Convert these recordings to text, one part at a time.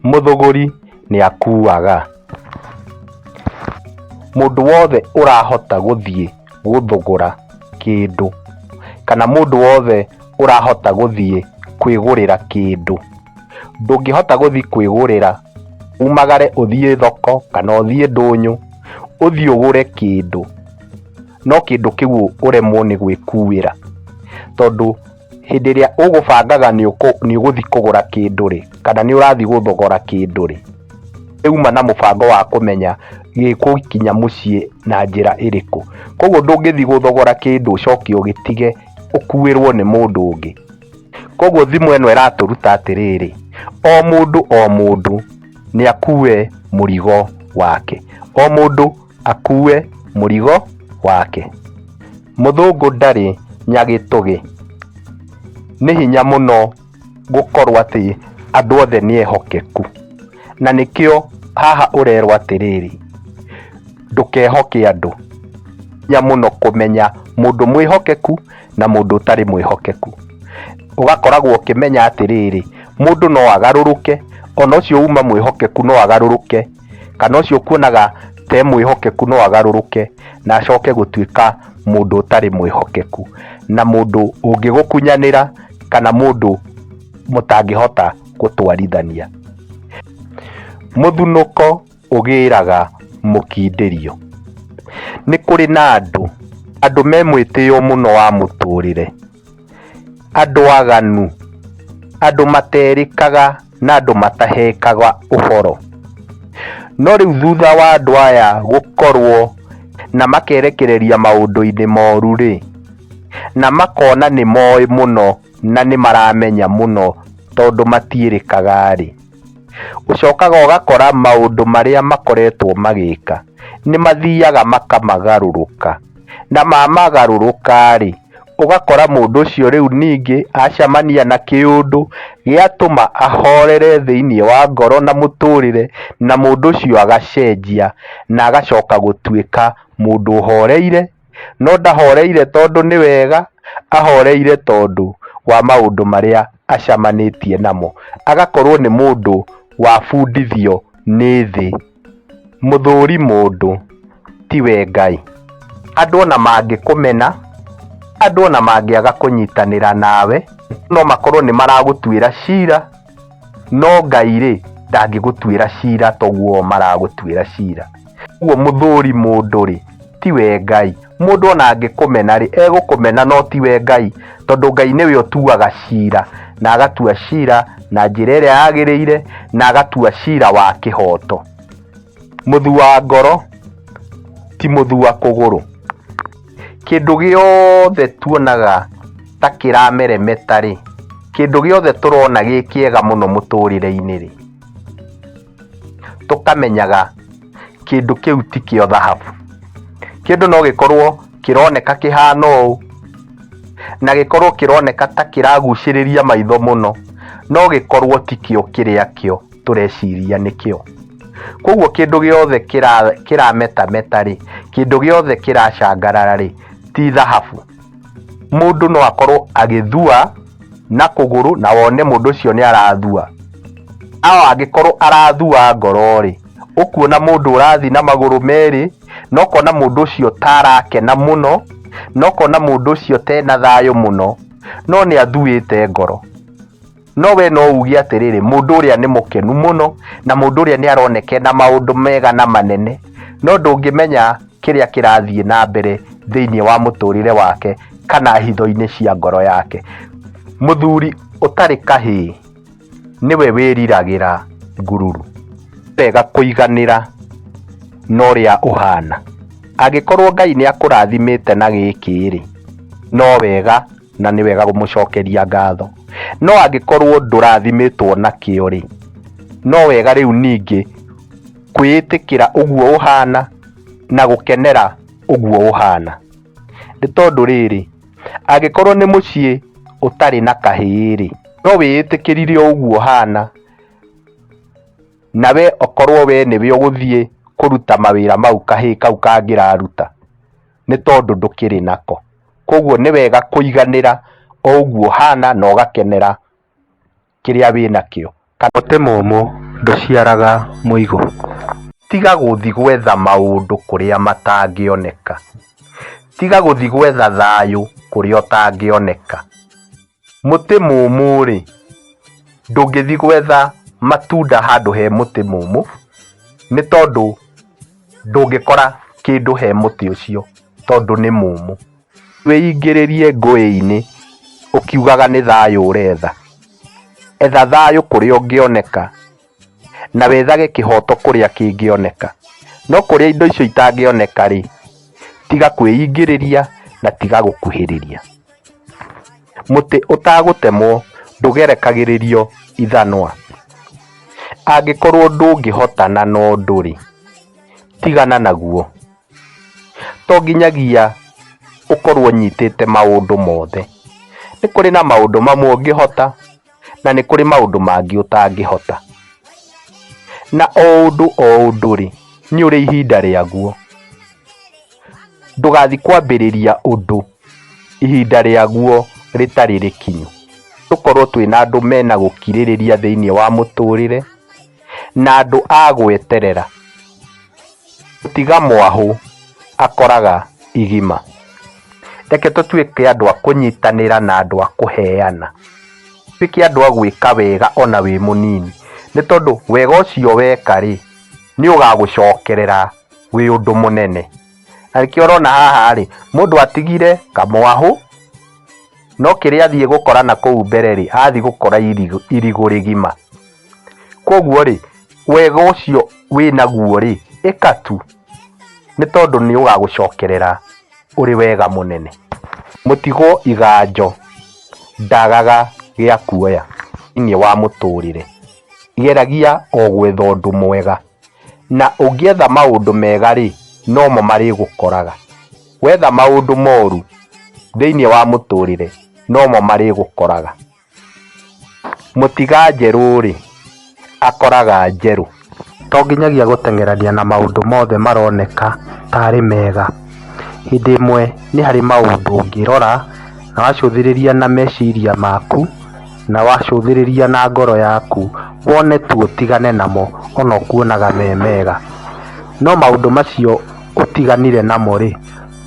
Mũthũgũri nĩ akuaga. Mũndũ wothe ũrahota gũthiĩ gũthũgũra kĩndũ kana mũndũ wothe ũrahota gũthiĩ kwĩgũrĩra kĩndũ. Ndũngĩhota gũthiĩ kwĩgũrĩra umagare ũthiĩ thoko kana ũthiĩ ndũnyũ ũthiĩ ũgũre kĩndũ. no kĩndũ kĩu ũremwo nĩ gwĩkuĩra tondũ hĩndĩ ĩrĩa ũgũbangaga nĩ ũgũthiĩ kũgũra kĩndũ rĩ kana nĩ ũrathiĩ gũthogora kĩndũ rĩ uma na mũbango wa kũmenya gĩgũkinya mũciĩ na njĩra ĩrĩkũ koguo ndũngĩthiĩ gũthogora kĩndũ ũcoke ũgĩtige ũkuĩrwo nĩ mũndũ ũngĩ koguo thimũ ĩno ĩratũruta atĩrĩrĩ o mũndũ o mũndũ nĩ akue mũrigo wake o mũndũ akue mũrigo wake. Mũthũngũ ndarĩ nyagĩtũgĩ. Nĩ hinya mũno gũkorwo atĩ andũ othe nĩ ehokeku. Na nĩkĩo haha ũrerwo atĩrĩrĩ, ndũkehoke andũ. Nĩ hinya mũno kũmenya mũndũ mwĩhokeku na mũndũ ũtarĩ mwĩhokeku. Ũgakoragwo ũkĩmenya atĩrĩrĩ, mũndũ no agarũrũke, ona ũcio uma mwĩhokeku no agarũrũke kana ũcio ũkuonaga te mwĩhokeku no agarũrũke na acoke gũtuĩka mũndũ ũtarĩ mwĩhokeku na mũndũ ũngĩgũkunyanĩra kana mũndũ mũtangĩhota gũtwarithania. Mũthunũko ũgĩraga mũkindĩrio. Nĩ kũrĩ na andũ, andũ me mwĩtĩo mũno wa mũtũrĩre. Andũ aganu, andũ materĩkaga na andũ matahekaga ũhoro. No rĩu thutha wa andũ aya gũkorwo na makerekereria maũndũ-inĩ moru rĩ, na makona nĩ moĩ mũno na nĩ maramenya mũno tondũ matiĩrĩkaga rĩ, ũcokaga ũgakora maũndũ marĩa makoretwo magĩka nĩ mathiaga makamagarũrũka. Na mamagarũrũka-rĩ, ũgakora mũndũ ũcio rĩu ningĩ acamania na kĩũndũ gĩatũma ahorere thĩinĩ wa ngoro na mũtũrĩre na mũndũ ũcio agacenjia na agacoka gũtuĩka mũndũ ũhoreire, no ndahoreire tondũ nĩ wega, ahoreire tondũ wa maũndũ marĩa acamanĩtie namo, agakorwo nĩ mũndũ wabundithio nĩ thĩ. Mũthũũri mũndũ, ti we Ngai. Andũ o na mangĩkũmena, andũ o na mangĩaga kũnyitanĩra nawe, no makorũo nĩ maragũtuĩra cira, no Ngai-rĩ, ndangĩgũtuĩra cira ta ũguo o maragũtuĩra cira. Ũguo mũthũũri mũndũ-rĩ, tiwe Ngai. Mũndũ ona angĩkũmena rĩ, egũkũmena no tiwe Ngai, tondũ Ngai nĩwe ũtuaga cira, na agatua cira na njĩra ĩrĩa yagĩrĩire, na agatua cira wa kĩhoto. Mũthua ngoro, ti mũthua kũgũrũ. Kĩndũ gĩothe tuonaga ta kĩrameremeta rĩ, kĩndũ gĩothe tũrona gĩ kĩega mũno mũtũrĩre-inĩ rĩ, tũkamenyaga kĩndũ kĩu ti kĩo thahabu kĩndũ no gĩkorwo kĩroneka kĩhana ũũ na gĩkorwo kĩroneka ta kĩragucĩrĩria maitho mũno no gĩkorwo ti kĩo kĩrĩa kĩo tũreciria nĩ kĩo koguo kĩndũ gĩothe kĩra- kĩrametameta rĩ kĩndũ gĩothe kĩracangarara rĩ ti thahabu mũndũ no akorwo agĩthua na kũgũrũ na wone mũndũ ũcio nĩ arathua ao angĩkorwo arathua ngoro-rĩ ũkuona mũndũ ũrathiĩ na magũrũ merĩ na ũkona mũndũ ũcio ta arakena mũno na ũkona mũndũ ũcio tena thayũ mũno no nĩ athuĩte ngoro. no we no uge atĩrĩrĩ mũndũ ũrĩa nĩ mũkenu mũno na mũndũ ũrĩa nĩ aroneke na maũndũ mega na manene no ndũngĩmenya kĩrĩa kĩrathiĩ na mbere thĩinĩ wa mũtũrĩre wake kana hitho-inĩ cia ngoro yake mũthuri ũtarĩ kahĩĩ nĩwe wĩriragĩra ngururu wega kũiganĩra na ũrĩa ũhana angĩkorwo ngai nĩ akũrathimĩte na gĩkĩ rĩ no wega na nĩ wega gũmũcokeria ngatho no angĩkorwo ndũrathimĩtwo na kĩo rĩ no wega rĩu ningĩ kwĩĩtĩkĩra ũguo ũhana na gũkenera ũguo ũhana nĩ tondũ rĩrĩ angĩkorwo nĩ mũciĩ ũtarĩ na kahĩĩ rĩ no wĩĩtĩkĩrire ũguo ũhana na we okorwo we nĩwe ũgũthiĩ kũruta mawĩra mau kahĩĩ kau kangĩraruta. nĩ tondũ ndũkĩrĩ nako. Koguo nĩ wega kũiganĩra o ũguo ũhana na ũgakenera kĩrĩa wĩnakĩo. Mũtĩ mũmũ ndũciaraga mũigũ. Tiga gũthiĩ gwetha maũndũ kũrĩa matangĩoneka. Tiga gũthiĩ gwetha thayũ kũrĩa ũtangĩoneka. Mũtĩ mũmũ-rĩ, ndũngĩthiĩ gwetha matunda handũ he mũtĩ mũmũ, nĩ tondũ ndũngĩkora kĩndũ he mũtĩ ũcio tondũ nĩ mũmũ. Wĩingĩrĩrie ngũĩ-inĩ ũkiugaga nĩ thayũ ũretha, etha thayũ kũrĩa ũngĩoneka. na wethage kĩhooto kũrĩa kĩngĩoneka. No kũrĩa indo icio itangĩoneka-rĩ, tiga kwĩingĩrĩria na tiga gũkuhĩrĩria. Mũtĩ ũtagũtemwo ndũgerekagĩrĩrio ithanwa. Angĩkorwo ndũngĩhotana na ũndũ-rĩ, tigana naguo. To nginyagia ũkorwo ũnyitĩte maũndũ mothe. Nĩ kũrĩ na maũndũ mamwe ũngĩhota. na nĩ kũrĩ maũndũ mangĩ ũtangĩhota na o ũndũ o ũndũ rĩ nĩ ũrĩ ihinda rĩaguo ndũgathi kwambĩrĩria ũndũ ihinda rĩaguo rĩtarĩ rĩkinyu tũkorwo twĩna andũ mena gũkirĩrĩria thĩinĩ wa mũtũrĩre. na andũ a gwĩterera, gũtiga mwahũ akoraga igima. Reke tũtuĩke andũ a kũnyitanĩra na andũ a kũheana, tũtuĩke andũ a gwĩka wega ona wĩ mũnini, nĩ tondũ wega ũcio weka rĩ, nĩ ũgagũcokerera wĩ ũndũ mũnene. Na nĩkĩo ũrona haha rĩ, mũndũ atigire kamwahũ, no kĩrĩa athiĩ gũkora nakũu mbere rĩ, athiĩ gũkora irigũ irigũ rĩgima. Koguo rĩ, wega ũcio wĩ naguo rĩ, ĩka tu, nĩ tondũ nĩ ũgagũcokerera ũrĩ wega mũnene. Mũtigwo iganjo ndagaga gĩa kuoya thĩinĩ wa mũtũrĩre. Geragia o gwetha ũndũ mwega, na ũngĩetha maũndũ mega rĩ, no mo marĩgũkoraga. Wetha maũndũ moru thĩinĩ wa mũtũrĩre, no mo marĩgũkoraga. Mũtiga njerũ-rĩ, akoraga njerũ. To nginyagia gũteng'erania na maũndũ mothe maroneka tarĩ mega. Hĩndĩ ĩmwe nĩ harĩ maũndũ ũngĩrora na wacũthĩrĩria na meciria maku na wacũthĩrĩria na ngoro yaku wone tu ũtigane namo ona ũkuonaga me mega. No maũndũ macio ũtiganire namo-rĩ,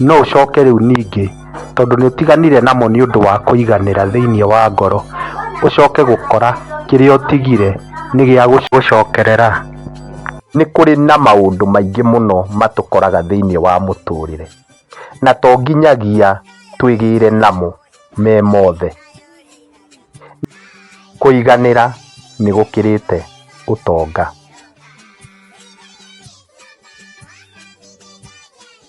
no ũcoke rĩu ningĩ tondũ nĩ ũtiganire namo nĩ ũndũ wa kũiganĩra thĩinĩ wa ngoro ũcoke gũkora kĩrĩa ũtigire nĩ gĩa gũcokerera. Nĩ kũrĩ na maũndũ maingĩ mũno matũkoraga thĩinĩ wa mũtũrĩre na to nginyagia twĩgĩre namo me mothe. Kũiganĩra nĩ gũkĩrĩte ũtonga.